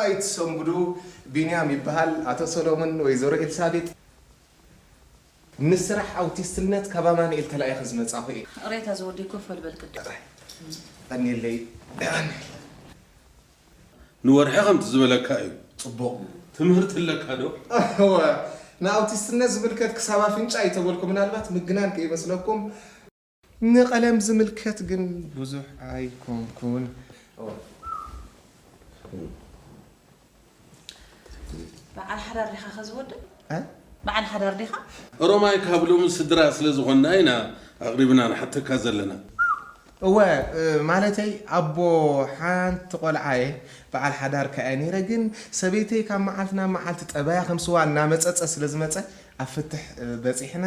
ኣይትሰንብዱ ቢንያም ይበሃል ኣቶ ሰሎሙን ወይዘሮ ኤልሳቤጥ ምስ ስራሕ ኣውቲስትነት ካብ ኣማኑኤል ተላኢኸ ዝመጻኹ እየ ሬታ ዝወዲ ኮፍ በልበል ቅድም ቀኒለይ ንወርሒ ከምቲ ዝበለካ እዩ ፅቡቕ ትምህርቲ ኣለካ ዶ እወ ንኣውቲስትነት ዝምልከት ክሳብ ኣፍንጫ እዩ ተበልኩ ምናልባት ምግናን ከይመስለኩም ንቀለም ዝምልከት ግን ብዙሕ ኣይኮንኩን። በዓል ሓዳር ዲኻ ከዚ ወዲ? በዓል ሓዳር ዲኻ? ኦሮማይ ካብ ሎሚ ስድራ ስለ ዝኾንና ኢና ኣቕሪብና ንሓተካ ዘለና። እወ ማለተይ ኣቦ ሓንቲ ቆልዓ እየ በዓል ሓዳር ከኣ እየ ነይረ ግን ሰበይተይ ካብ መዓልቲ ናብ መዓልቲ ጠባያ ከም ስዋ እናመጸጸ ስለ ዝመጸ ኣብ ፍትሕ በጺሕና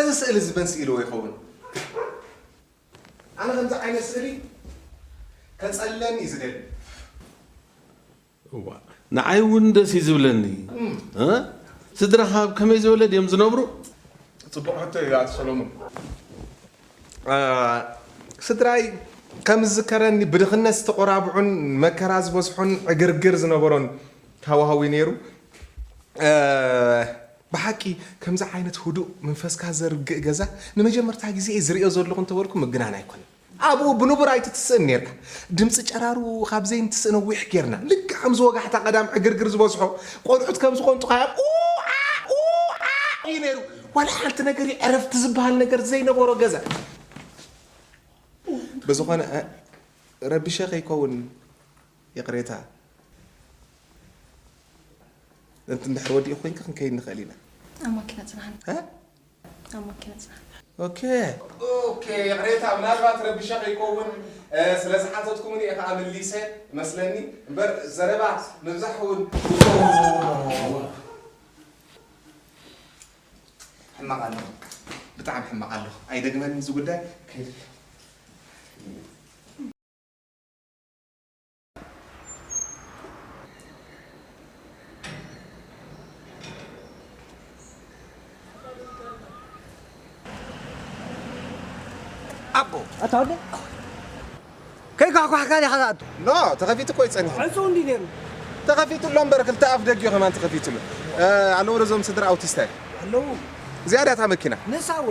እዚ ስእሊ እዚ መን ስኢልዎ ይኸውን? ኣነ ከምዚ ዓይነት ስእሊ ከፀልለኒ እዩ ዝደሊ። እዋእ ንዓይ እውን ደስ እዩ ዝብለኒ እ ስድራኻ ኣብ ከመይ ዝበለ ድዮም ዝነብሩ? ፅቡቕ ሕቶ እዩ ኣቶ ሰሎሙን ስድራይ ከም ዝዝከረኒ ብድኽነት ዝተቖራብዑን መከራ ዝበዝሖን ዕግርግር ዝነበሮን ሃዋህው እዩ ነይሩ ብሓቂ ከምዚ ዓይነት ህዱእ መንፈስካ ዘርግእ ገዛ ንመጀመርታ ግዜ እየ ዝሪኦ ዘለኹ እንተበልኩ ምግናን ኣይኮነን። ኣብኡ ብንቡር ኣይትትስእን ኔርካ። ድምጺ ጨራሩ ካብ ዘይንትስእ ነዊሕ ጌርና። ልክዕ ከምዚ ወጋሕታ ቀዳም ዕግርግር ዝበዝሖ ቆልዑት ከም ዝቆንጡኻዮም ኡኣእ ኡኣእ እዩ ኔሩ። ዋላ ሓንቲ ነገር እዩ ዕረፍቲ ዝበሃል ነገር ዘይነበሮ ገዛ። ብዝኾነ ረቢሸ ከይከውን ይቕሬታ። እንድሕር ወዲኡ ኮንኪ ክንከይድ ንኽእል ኢና። ኣብ ማኪና ጽናሓኒ። ኣብ ማኪና ጽናሕ። ኦኬ ኦኬ ይቕሬታ ምናልባት ረቢሸ ከይከውን ስለ ዝሓተትኩምኒ እየ ከኣ መሊሰ መስለኒ እምበር ዘረባ ምብዛሕ እውን ሕማቕ ኣለኹ ብጣዕሚ ሕማቕ ኣለኹ ኣይደግመን እዚ ጉዳይ ከይድ ኣቦ ኣታ ወደ ከይኳሕኳሕካ ዲኻ ዝኣቱ ኖ ተኸፊቱ እኮ ይጸኒሑ ዕፁ እንዲ ነይሩ ተኸፊቱ ኣሎ እምበር ክልተ ኣፍ ደጊኡ ከማን ተኸፊቱ ኣሎ ኣለዉ ዶ እዞም ስድራ ኣውቲስታይ ኣለዉ ዝያዳታ መኪና ንሳ ወ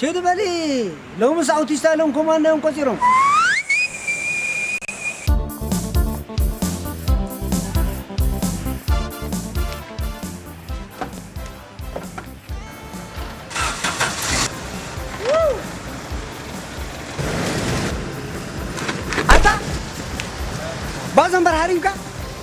ሽድ በሊ ሎምስ ኣውቲስታ ኢሎም ኮማንዶ እዮም ቆጺሮም። ኣታ ባዘንበር ሃሪምካ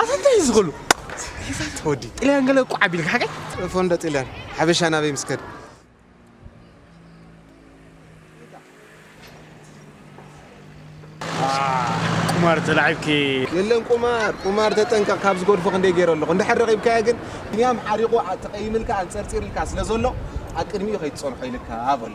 ኣታ እንታይ እዩ ዝኽሉ ወዲ ጥልያን ገለ እኮ ዓቢልካ ሓቀይ ፎንደ ጥልያን ሓበሻ ናበይ ምስ ከደ ቁማር ተላዒብኪ የለን ቁማር ቁማር ተጠንቀቕ ካብ ዝጎድፎ ክንደይ ገይረ ኣለኹ እንድሕር ረኺብካዮ ግን ብንያም ሓሪቑ ተቐይምልካ ኣንፀርፂርልካ ስለ ዘሎ ኣብ ቅድሚኡ ከይትፀንሖ ኢልካ በሎ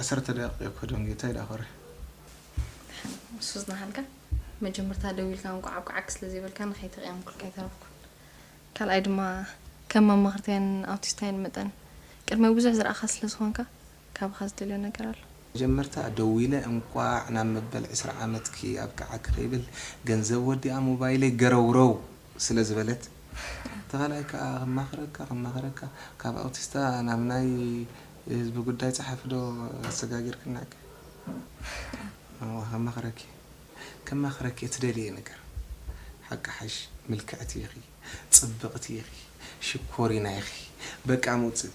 ዓሰርተ ደቂቕ እየ ክኸዶም ጌታይ ዳኸረ ንሱ ዝናሃልካ መጀመርታ ደዊልካ እንቋዕ ኣብ ቃዓክ ስለ ዘይበልካ ንኸይተቕየምኩልካ ኣይተረፍኩን ካልኣይ ድማ ከም መማኽርታይን ኣውቲስታይን መጠን ቅድመ ብዙሕ ዝረኣኻ ስለ ዝኾንካ ካብኻ ዝደልዮ ነገር ኣሎ። መጀመርታ ደዊለ እንቋዕ ናብ መበል ዕስራ ዓመትኪ ኣብቅዓኪ ከይብል ገንዘብ ወዲኣ ሞባይለይ ገረውረው ስለ ዝበለት እቲ ካልኣይ ክኣ ከማኽረካ ከማኽረካ ካብ ኣውቲስታ ናብ ናይ ህዝቢ ጉዳይ ጸሓፊ ዶ ኣሰጋጊርክናኪ እወ ከማኽረኪ ከማኽረኪ እትደልይዮ ነገር ሓቂ ሓሽ ምልክዕቲ ኢኺ ጽብቕቲ ኢኺ ሽኮሪና ኢኺ በቃ ምውጽእ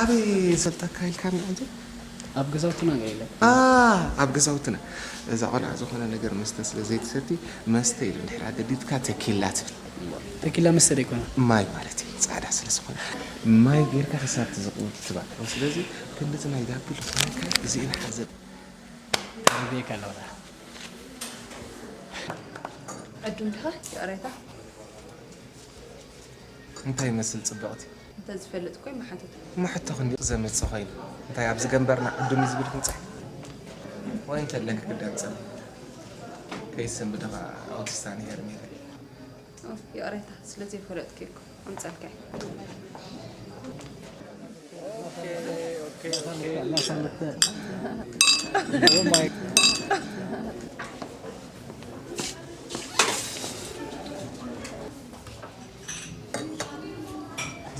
ኣበይ ሰልጣ ኣካይልካ ንዕዚ ኣብ ገዛውትና ኢና ኢለ ኣብ ገዛውትና እዛ ቆልዓ ዝኾነ ነገር መስተ ስለ ዘይትሰቲ መስተ ኢሉ ድሕር ኣገዲድካ ተኪላ ትብል ተኪላ መስተ ደይኮነ ማይ ማለት እዩ ፃዕዳ ስለ ዝኾነ ማይ ጌርካ ክሳብቲ ዝቕውት ትባዕ ስለዚ ክንድቲ ናይ ዳፒ ዝኾነካ እዚእን ሓዘብ ኣቤካ ኣለውና ዕዱም ዲኻ ይቕሬታ እንታይ ይመስል ፅብቕቲ እንተዝፈልጥ እኮ ይመሓተት እሞ ሕቶ ክንዲ ዘምፅእ ኮይኑ እንታይ ኣብዚ ገንበርና ዕዱም እዩ ዝብል ክንፅሕ ወይ እንተለክ ክዳንፅል ከይሰንብድኻ ኣውቲስታን ሄርሜላ ይቕሬታ ስለዘይፈለጥኩ እኮ ኣምፀልካዮ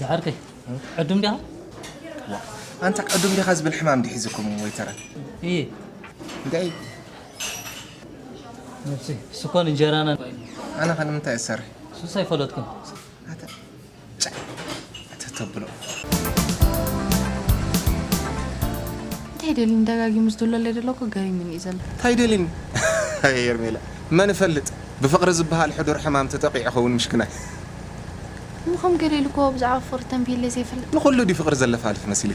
ዝሓርከይ ዕዱም ዲኻ ኣንታ ዕዱም ዲኻ ዝብል ሕማም ዲሒዝኩም ወይተረ እየ እንታይ ነብሲ ስኮን እንጀራና ኣነ ከ ንምንታይ እሰርሕ ሱስ ኣይፈለጥኩን ኣተ ጫ ኣተ ተብሎ እንታይ ደሊን ደጋጊሙ ዝድለለ ዘለኩ ገሪሙኒ እዩ ዘሎ እንታይ ደሊኒ ኣይ ሄርሜላ መን እፈልጥ ብፍቕሪ ዝበሃል ሕዱር ሕማም ተጠቂዑ ኸውን ምሽክናይ እሞ ከም ገለ ኢሉ እኮ ብዛዕባ ፍቕሪ ተንቢየለይ ዘይፈልጥ ንኹሉ ድዩ ፍቕሪ ዘለፋልፍ መሲሉ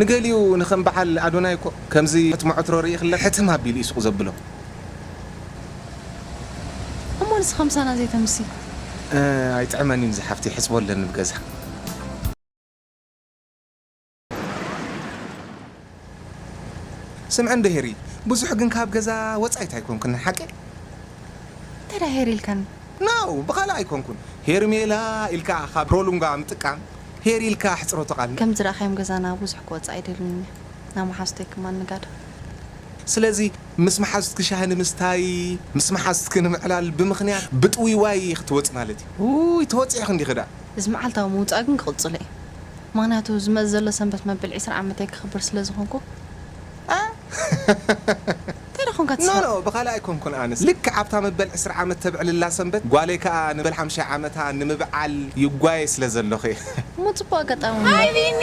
ንገሊኡ ንከም በዓል ኣዶናይ እኮ ከምዚ ሕትሞ ዕትሮ ርኢክለ ሕትም ኣቢሉ እዩ ሱቅ ዘብሎ። እሞ ንስካ ምሳና ዘይተምሲ። ኣይጥዕመን እዩ ዝሓፍተይ ሕጽቦ ኣለኒ ኣብ ገዛ። ስምዕን ዶ ሄሪ ብዙሕ ግን ካብ ገዛ ወጻኢት ኣይኮንክንን ሓቂ? እንተድኣ ሄሪ ኢልካኒ። ኖው ብካልእ ኣይኮንኩን ሄርሜላ ኢልካ ካብ ፕሮሉንጋ ምጥቃም ሄሪ ኢልካ ኣሕጽሮ ተቃልል። ከም ዝረኣካዮም ገዛና ብዙሕ ክወጽእ ኣይደልን እየ። ናብ መሓዙተይ ክማን ንጋድ። ስለዚ ምስ መሓዙትኪ ሻሂ ንምስታይ፣ ምስ መሓዙትኪ ንምዕላል ብምኽንያት ብጥውይዋይ ክትወጺ ማለት እዩ። ኡይ ተወጺዕኺ እንዲኺ ደኣ። እዚ መዓልታዊ ምውጻእ ግን ክቕጽሎ እዩ። ምኽንያቱ ዝመጽእ ዘሎ ሰንበት መበል ዕስራ ዓመተይ ከኽብር ስለ ዝኾንኩ። ኣእ! እንታይ ደኣ ኮንካ ትስሕቕ? ኖኖ ብኻልእ ኣይኮንኩን ኣነስ ልክዕ ኣብታ መበል ዕስራ ዓመት ተብዕልላ ሰንበት ጓለይ ከኣ ንበል ሓምሻይ ዓመታ ንምብዓል ይጓየ ስለ ዘለኹ እየ። እሞ ጽቡቕ ኣጋጣሚ ሃይ ምበር። ቢኒ።